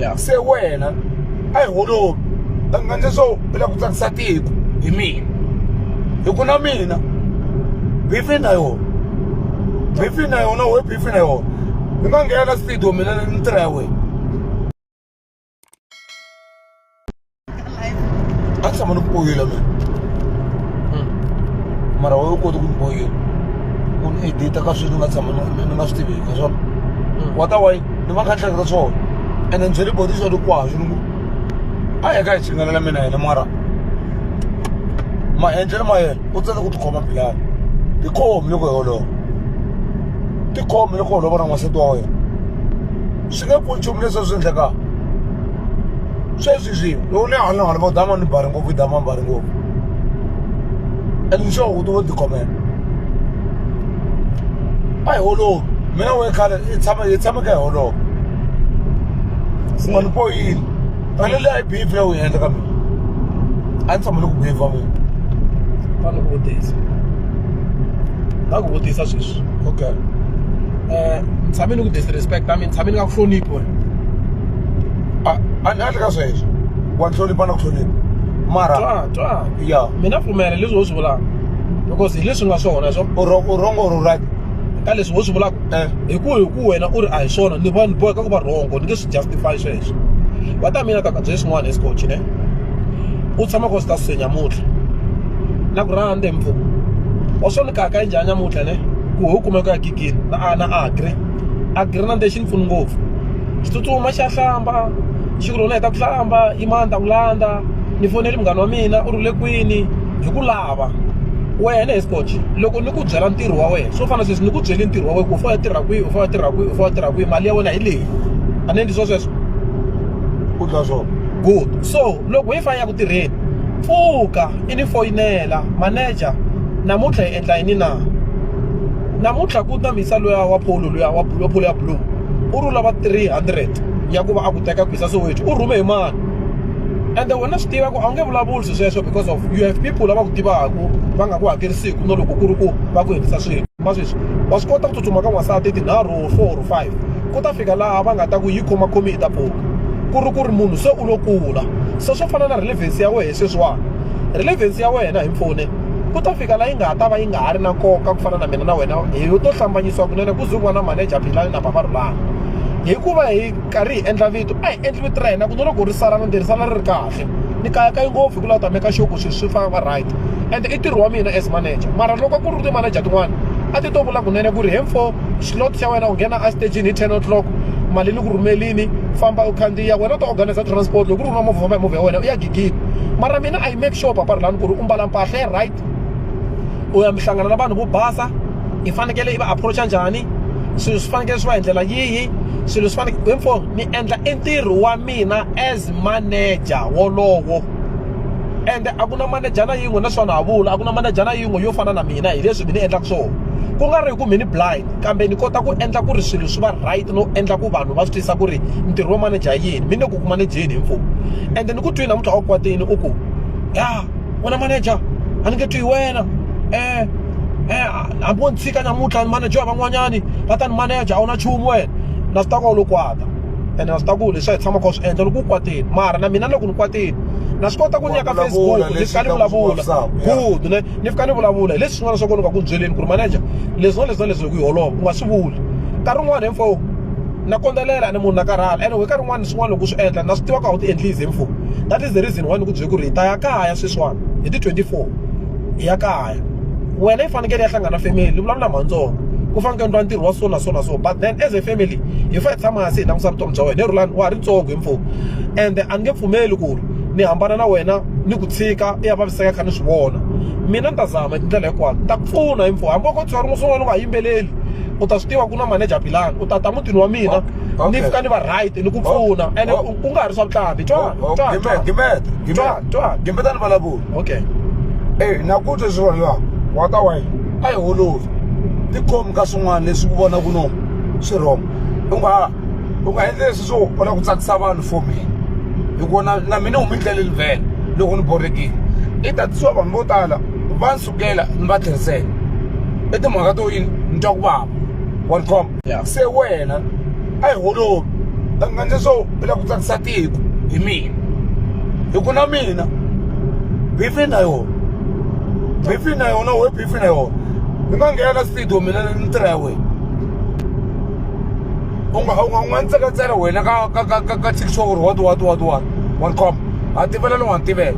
ya se wena a hi holovi a nga ndle swo u lava ku tsakisa tiko hi mina hi ku na mina bifi na yona bifi na yona we bifi na yona ni nga nghena studio mina ni tirha ya wena hata kama nikupoyela me mara wa u koti ku nipoyela u ni edita ka sweswi ni nga tshama ni- ni nga swi tiveki ka swona wa ta wayi ni va kha ni hleketa swona ene ni byele boti swa likwaswo ni ku a hi ka hi chingalela mina yena mara maendlelo ma yena u tsele ku tikhoma bilani tikhomi loko hi holova tikhomi loko holova na n'wansati wa wena swi nge pfuni nchumu leswi swi endlekaka sweswi swi loko ni hanya hanya vo dama ni bari ngopfu yi dama ni bari ngopfu and ni sure u ti vo tikhomela a hi holovi mina we khale i tshama hi tshama ka hi holova unga ni poyini ene leyi a yi beef leyi u yi endla ka mina a ni tshama ni ku beef wa mina va ku vutisa va ku vutisa sweswi okay eh tshame ni ku disrespect i mean tshame ni nga ku hloniphi wena a a ni hatli ka sweswo wa hlonipha na ku hlonipha mara twa twa ya mina pfumela leswi wo swi vulaka because hi leswi nga swona swo u wrong- u wrong or u right ka leswi wo swi vulaka eh hi ku hi ku wena u ri a hi swona ni va ni boheka ku va rhongo ni nge swi justify sweswo va ta mina kaka bye swin'wana esikochi ne u tshama ko swi ta suse nyamutlha na ku rhandza mpfuku wa swo ni kaka yi njhani nyamutlha ne ku ho kumeka ya gigini na a na agri agri na nde xi ni pfuni ngopfu xi tsutsuma xa hlamba xi ku lona heta ku hlamba i mani ta ku landza ni foneli munghana wa mina u ri le kwini hi ku lava wena hi scotch loko ni ku byela ntirho wa wena swo fana sweswi ni ku byeli ntirho wa wena ku u fanele tirha kwihi u fanele tirha kwihi u fanele tirha kwihi mali ya wena hi leyi and then ndizvo swesvo u twa swona good so loko wi fi ya ku tirheni pfuka i ni foyinela manager namuntlha hi endla yini na namuntlha ku ta misa luya wa polo luya wa polo ya blue u ri lava 300 ya ku va a ku teka ku hisa soweto u rhume hi mani ende wena swi tiva ku a wu nge vulavuli swi sweswo because of you have people lava ku tivaka va nga ku hakerisiku no loko ku ri ku va ku endlisa swilo va sweswi wa swi kota ku tsutsuma ka n'wansati tinharhu or four or five ku ta fika laha va nga ta ku yi khomakhomi yi ta pfuka ku ri ku ri munhu se u lo kula se swo fana na relevance ya wena sweswiwani relevance ya wena hi mfone ku ta fika laha yi nga ta va yi nga ha ri na nkoka ku fana na mina na wena hi to hlambanyisiwa kunene ku zuviwa na manager philani na bava rhulani hikuva hi karhi hi endla vito a hi endli vito ra hina ku no loko ri sala na ntirhisana ri ri kahle kahle ni kayakayi ngopfu hi ku la ta make sure ku swilo swi famba right and i ntirho wa mina as manager mara loko ku ri ti-manager tin'wana a ti to vula kunene ku ri hemfo slot xa wena u nghena estagini hi ten o'clock mali ni ku rhumelini famba u khandziya wena u ta organize transport loko ku ri na movha famba hi movha ya wena u ya gigini mara mina i make sure papa rilani ku ri u mbala mpahla ya right u ya mi hlangana na vanhu vo basa i fanekele i va approacha njhani swilo swi fanekele swi va hi ndlela yihi swilo swi fanekele hemfo ni endla i ntirho wa ina as manager wolowo ende a ku na manejana yin'we na swona ha vula a ku na manejana yin'we yo fana na mina hi leswi mi ni endlaka swona ku nga ri hi ku mi ni blind kambe ni kota ku endla ku ri swilo swi va right no endla ku vanhu va swi twisisa ku ri ntirho wa manager yini mi ne ku ku manejeni hi mfumo ende ni ku twi namuntlha wa kwatini u ku ya wena manager a ni nge twi hi wena um um hambi wo ni tshika namuntlha manager van'wanyani va ta ni manager a wu na nchumu wena na swi ta ku a wu lo kwata ene na swi ta ku leswi a hi tshamaka swi endla loko u kwatile mara na mina loko ni kwatile na swi kota ku ni ya ka facebook ni fika ni vulavula good ne ni fika ni vulavula hi leswi swin'wana swa ku ni nga ku byeleni ku ri manager leswi na leswi na leswi hi ku yi holova u nga swi vuli nkarhi wun'wana hi mfo na kondzelela ni munhu na karhala ene we nkarhi wun'wana swin'wana loko u swi endla na swi tiva ku a wu ti endlisi hi mfo that is the reason why ni ku byele ku ri hi ta ya kaya sweswiwana hi ti twenty four hi ya kaya wena yi fanekele ya hlangana family ni vulavula mhantsongo ku fanekele ni twa ntirho wa so na so na so but then as a family hi fa hi tshama hansi hi langusa vutomi bya wena hi rhulani wa ha ri ntsongo hi mfumo ende a ni nge pfumeli ku ri ni hambana na wena ni ku tshika i ya vaviseka kha ni swi vona mina ni ta zama hi tindlela hinkwato ta pfuna hi mfumo hambi ko tswari n'wi swin'wana u nga yimbeleli u ta swi tiva ku na manager bilani u ta ta mutini wa mina ni fika ni va right ni ku pfuna ene ku nga ha ri swa vutlhambi twa twa twa gimbeta ni vulavula okay e na ku twa swivona wa ka wena a hi holovi tikhomi ka swin'wana leswi ku vona ku nona swi wrong u nga u nga endli leswi swo u lava ku tsakisa vanhu for me hi ku na na mina huma endleleni vhele loko ni borhekile i tatisiwa vanhu vo tala va ni sukela ni va tlherisela i timhaka to yini ni twa ku vava wa ni khoma ya se wena a hi holovi u nga endli swo u lava ku tsakisa tiko hi mina hi ku na mina beef na yona beef na yona . fana ye o u nga nghena na studio mina ni tirha ya wena u nga u nga u nga ni tseketsela wena ka ka ka ka ka tikiswa ku ri what what what what one com ha tivela ni wa ni tivela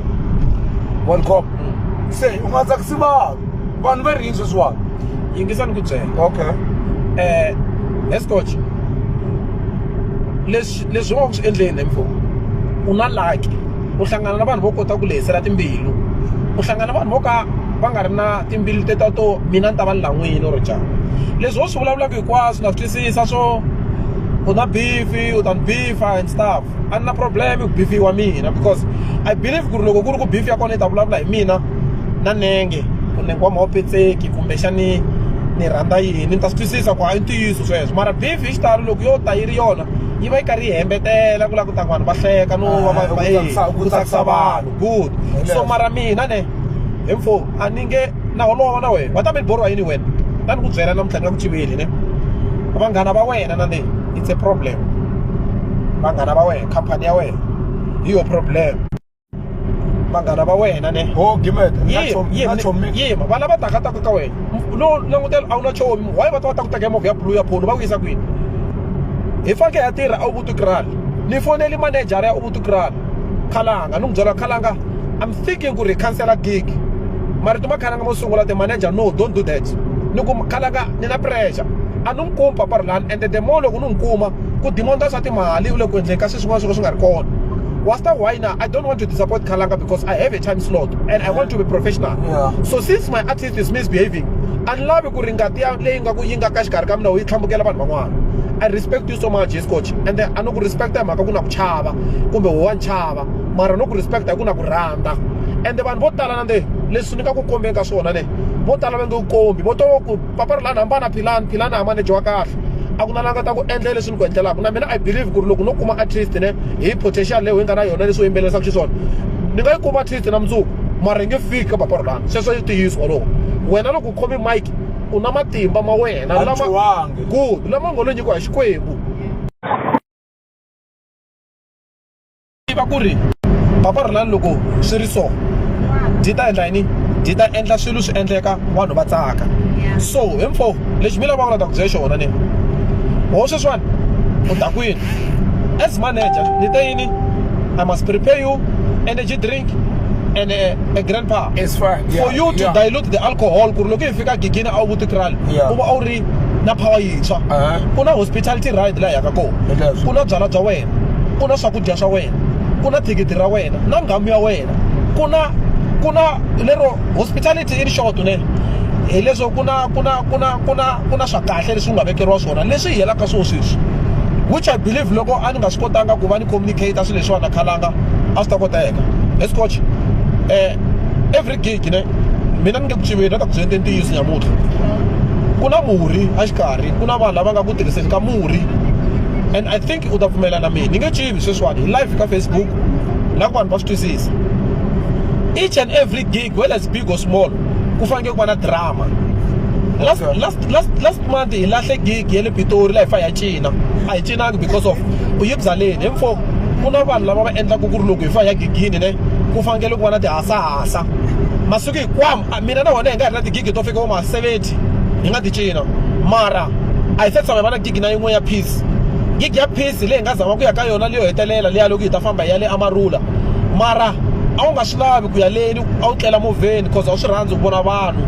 one com se u nga tsakisi vanhu vanhu va ri yini sweswiwani yingisa ni ku byela okay um escotch leswi leswi u nga ku swi endleni M4 u na lucky u hlangana na vanhu vo kota ku lehisela timbilu u hlangana na vanhu vo ka va nga ri na timbilu te ta to mina ni ta va ni lan'wini or njhani leswi wo swi vulavulaka hinkwaswo na swi twisisa swo u na bifi u ta ni bifa and stuff a ni na problem ku bifiwa mina because i believe ku ri loko ku ri ku bifi ya kona yi ta vulavula hi mina na nenge ku nenge wa mhopetseki kumbexani ni rhandza yini ni ta swi twisisa ku hayi ntiyiso sweswo mara bifi xitalo loko yo ta yi ri yona yi va yi karhi yi hembetela ku lava ku ta vanhu va hleka no va va ah, ku tsakisa vanhu good so mara mina ne hi mfo a ni nge na holova na wena va ta mi borwa yini wena ta ni ku byela namuntlha ni nga ku tiveli ne vanghana va wena na leyi it's a problem vanghana va wena khampani ya wena hi yo problem vanghana va wena ne ho gimet yima va lava taka taka ka wena no langutela a wu na chomi why va ta va ta ku teka movha ya blue ya pholo va ku yisa kwini hi fanke ya tirha a ubutukral ni foneli manejara ya ubutukral khalanga ni n'wi byela khalanga i'm thinking ku ri khansela gig marito ma khalanga mo sungula ti manager no don't do that ni ku khalanga ni na pressure a ni n'wi kumi papa rilani ende the more loko ni n'wi kuma ku dimonda swa timali u le ku endleni ka swi swin'wana swo ka swi nga ri kona Wasta Wina, I don't want to disappoint Kalanga because I have a time slot and I want to be professional. Yeah. So since my artist is misbehaving, a ni lavi ku ri ngati ya leyi nga ku yi nga ka xikarhi ka mina wu yi tlhambukela vanhu van'wana i respect you so much hiscoch and then a no ku respecta hi mhaka ku na ku chava kumbe wo wa ni chava mara no ku respecta hi ku na ku rhandza ende vanhu vo tala nande leswi ni ka ku kombeni ka swona ne vo tala va nge ku kombi vo to ku papa ri lani hambana philani philani hambane dyiwa kahle a ku na la nga ta ku endla leswi ku endlelaka na mina i believe ku ri loko no kuma at least ne hi potential leyi hi nga na yona leswi u yimbelerisaka xiswona ni nga yi kuma at least na mundzuku mara hi nge fiki ka papa rolani sweswo i ntiyiso wolowo wena loko u khome mike u na matimba ma wena lama good lama ngo lo nyikiwa hi xikwembu tiva ku ri papa ri lani loko swi ri so byi ta endla yini byi ta endla swilo swi endleka vanhu va tsaka so hinfo lexi mi lavaka na ta ku byela xona ni ho sweswiwani u ta kwini as manager ni te yini i must prepare you energy drink and a, a grandpa It's fine. Yeah, for you to yeah. dilute the alcohol ku ri loko yi fika gigini a wu vuti kral Yeah. u va a wu ri na power yintshwa Uh-huh. ku na hospitality ride laha yaka kona It does. ku na byala bya wena ku na swakudya swa wena ku na thikithi ra wena na nghamu ya wena ku na ku na lero hospitality i ri xoto nene hileswo ku na ku na ku na ku na ku na swa kahle leswi nga vekeriwa swona leswi hi helaka swo sweswi which i believe loko a ni nga swi kotanga ku va ni communicate swilo leswiwana khalanga a swi ta koteka hi scotch um eh, every gig ne mina ni nge ku tiveni na ta ku byeleni ntiyiso nyamutlha ku na murhi a xikarhi ku na vanhu lava nga ku tirhiseni ka murhi and i think think u ta pfumela na mina ni nge chivi sweswiwani hi live ka facebook la ku vanhu va swi twisisa each and every gig whether it's big or small ku fanekele ku va na drama last, last, last, last month hi lahle gig ya le pitori laha hi fa hi ya cina a hi cinanga because of u yi byaleni hi mfo ku na vanhu lava va endlaka ku ri loko hi fa hi ya gigini ne ku fanekele ku va na tihasahasa masiku hikwamo mina na wena hi nga ri na tigigi to fika vo ma 70 hi nga ti cina mara a hi se tshama hi va na gig na yin'we ya peace gig ya peace leyi hi nga zama ku ya ka yona leyo hetelela leya loko hi ta famba hi ya le amarula mara a wu nga swi lavi ku ya leni a wu tlela movheni cause a wu swi rhandzi ku vona vanhu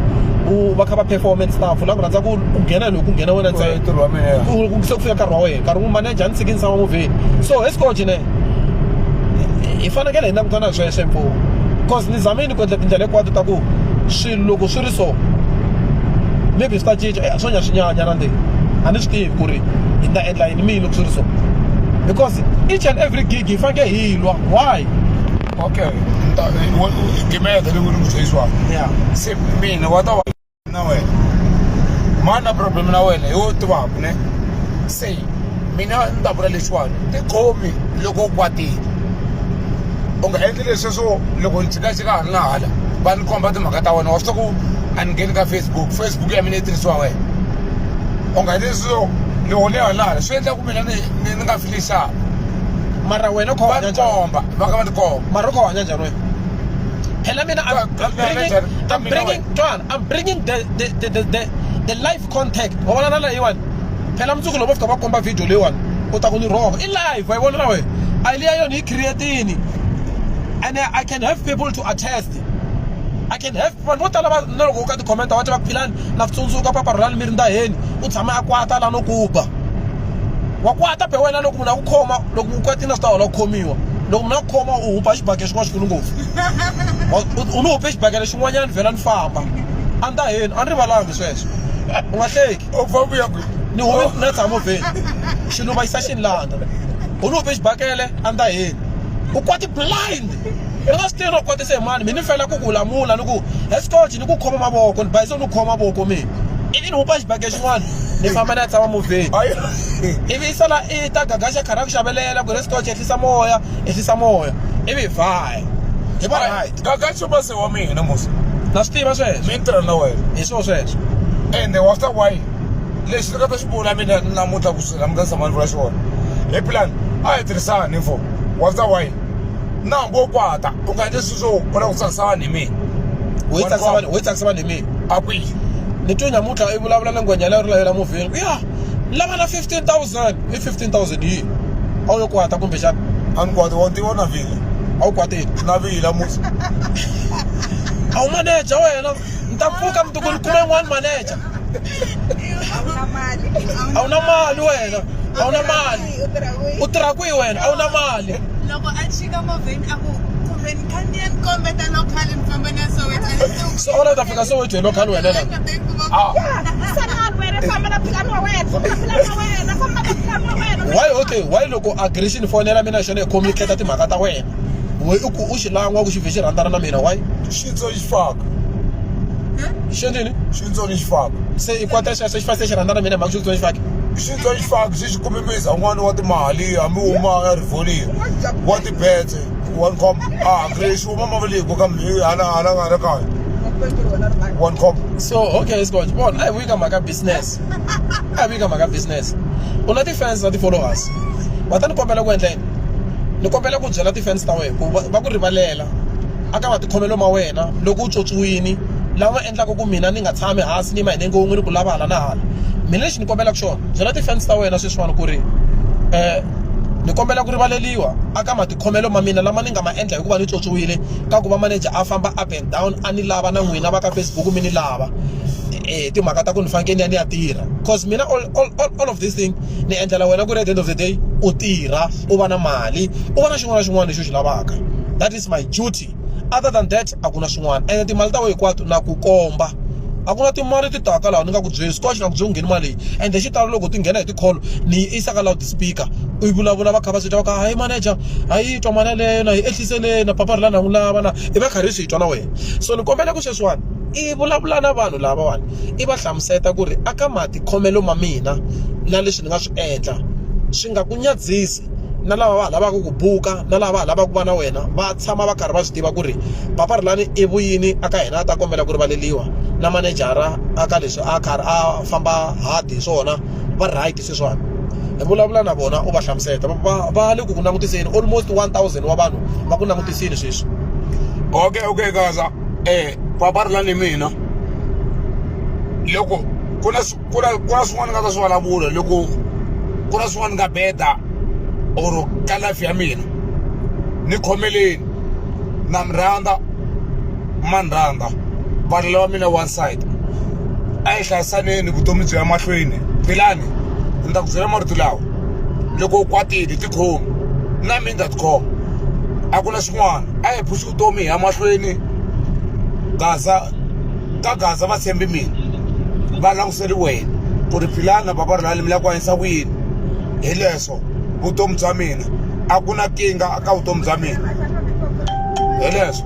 u va kha va performance staff la ku rhandza ku ku nghena loko ku nghena wena ntsena se ku fika nkarhi wa wena nkarhi wun'we manager a ni tshiki ni tshama movheni so hi sikoji ne hi fanekele hi langutana hi sweswe mpo cause ni zamini ku endla tindlela hinkwato ta ku swilo loko swi ri so maybe swi ta cinca swo nya swi nyanya na ndzeni a ni swi tivi ku ri hi ta endla yini mina loko swi ri so because each and every gig hi faneke hi lwa why okay gimeta leyi ri mutseyisiwaka ya se mina wa ta wa na wena mani na problem na wena hi wo tivaku ne se mina ni ta vula lexiwani tikhomi loko u kwatile u nga endli leswi swo loko ni jikajika ha ri na hala va ni komba timhaka ta wena wa swi tiva ku a ni ngheni ka facebook facebook ya mina yi tirhisiwa wena u nga ni so ni hone halala swi endla ku mina ni ni nga fili xana mara wena u kha va ni komba va ka va ni komba mara u kha u hanya njhani wena phela mina i'm bringing twana i'm bringing the the the the the, the life contact wa vona na leyiwani phela mundzuku loko va fika va komba video leyiwani u ta ku ni rhova i live wa yi vona na wena a yi liya yona yi creatini and i can have people to attest i can have vanhu vo tala na loko u ka tikhomenta va ti va philani na ku tsundzuka papa rhulani mi ri ndaheni u tshama a kwata la no ku ba wa kwata be wena loko munhu a ku khoma loko u kwatile swi ta hola ku khomiwa loko munhu a ku khoma u hupa xibage xin'wana xikulu ngopfu u ni hupe xibage lexin'wanyana vhela ni famba a ndaheni a ni rivalanga sweswo u nga hleki obva vuya kwi ni home na tshamo vheni xilo va yisa xinlanda u ni hove xibakele a nda heni u kwati blind i nga swi tirhi u kwatisa hi mani mi ni fela ku ku lamula ni ku escoge ni ku khoma mavoko ni bayiso ni khoma mavoko mina ivi ni hupa xibakele xin'wana ni famba na tshama movheni ivi i sala i ta gagaxa khara ku xavelela ku ri escoge ehlisa moya ehlisa moya ivi hi vhaya hi va hi Gaga xo va se wa mina musa na swi tiva sweswo mi tirha na wena hi swo sweswo ende wa swi ta why lexi ni nga ta xi vula mina namuntlha ku swi namuntlha tshama ni vula xona hi plan a hi tirhisani info wa swi ta why na hambi wo kwata u nga endli swilo swo u lava ku tsakisa vanhu hi mina wo yi tsakisa vanhu wo yi tsakisa vanhu hi mina a kwihi ni twe namuntlha i vulavula na ngwenyana ri lavela muvheni ya lava na 15000 i 15000 yi a wu yo kwata kumbe xana a ni kwati wa tiva na vile a wu kwati na vila musi a wu maneja wena ni ta pfuka mundzuku ni kuma yin'wana maneja a wu na mali a wu na mali wena a wu na mali u tirha kwihi wena a wu na mali loko a chika movheni a ku so ona ta fika so wethe local wena la ah why okay why loko aggression phone yela mina xona ikhomi kheta timhaka ta wena we u u xi langwa ku xi vhe xi rhandzana na mina why xitso xi faka xi ndini xitso xi faka se i kwata xa se xi fase xi rhandzana na mina mhaka xitso xi faka xitso xi faka xi xi kumimisa n'wana wa timali hambi u ma rivolini wa tibetse one cup ah kile shu mama vele go ka mhe hala hala ga re kae one cup so okay is good bon ai wika maka business ai wika maka business una ti fans na ti followers va ta ni kombela ku endla yini ni kombela ku byela ti fans ta wena ku va ku rivalela aka matikhomelo ma wena loko u tswotswiwini lama endlaka ku mina ni nga tshami hansi ni mahine ngo n'wini ku lava hala na hala mina lexi ni kombelaka xona byela ti fans ta wena sweswiwani ku ri um ni kombela ku rivaleliwa aka khomelo ma mina lama ni nga ma endla hikuva ni tswotswiwile ka ku va manager a famba up and down a ni lava na n'wina va ka Facebook mi ni lava hi timhaka ta ku ni fanekele ni ya ni ya tirha cause mina all, all, all, all of this thing ni endlela wena ku ri at the end of the day u tirha u va na mali u va na xin'wana na xin'wana lexi u xi lavaka that is my duty other than that a ku na swin'wana ene timali ta wena hinkwato na ku komba a ku na timali ti taka laha ni nga ku byeli scotch na ku byeli ngheni mali leyi ende xi talo loko ti nghena hi tikholo ni yi isa ka loud speaker u yi vulavula va kha va swi twa va kha hayi manager a yi twa mali yaleyo na yi ehliseleni na papa ri la na n'wi lava na i va karhi hi swi twa na wena so ni kombela ku sweswiwani i vulavula na vanhu lavawani i va hlamuseta ku ri a ka matikhomelo ma mina na leswi ni nga swi endla swi nga ku nyadzisi na lava va lavaka ku buka na lava lavaka ku va na wena va tshama va karhi va swi tiva ku ri papa ri lani i vuyini a ka hina a ta kombela ku rivaleliwa na manejara a ka leswi a karhi a famba hard hi swona va right sweswiwani hi vulavula na vona u va hlamuseta va va le ku ku langutiseni almost 1000 wa vanhu va ku langutisini sweswi okay okay kaza eh papa ri lani mina loko ku na ku na ku na swin'wana ni nga ta swi vulavula loko ku na swin'wana ni nga beta or ka life ya mina ni khomeleni na mi rhandza ma ni rhandza valala wa mina one side a hi hlayisaneni vutomi byi ya mahlweni philani ni ta ku byela marito lawa loko u kwatile tikhomi na mi nga tikhoma a ku na xin'wana a hi phuxi vutomi hi ya mahlweni gaza ka gaza va tshembi mina va languseli wena ku ri philana bava ri lani mi lava ku hanyisa ku yini hi leswo vutomi bya mina a ku na kinga ka vutomi bya mina hi leswo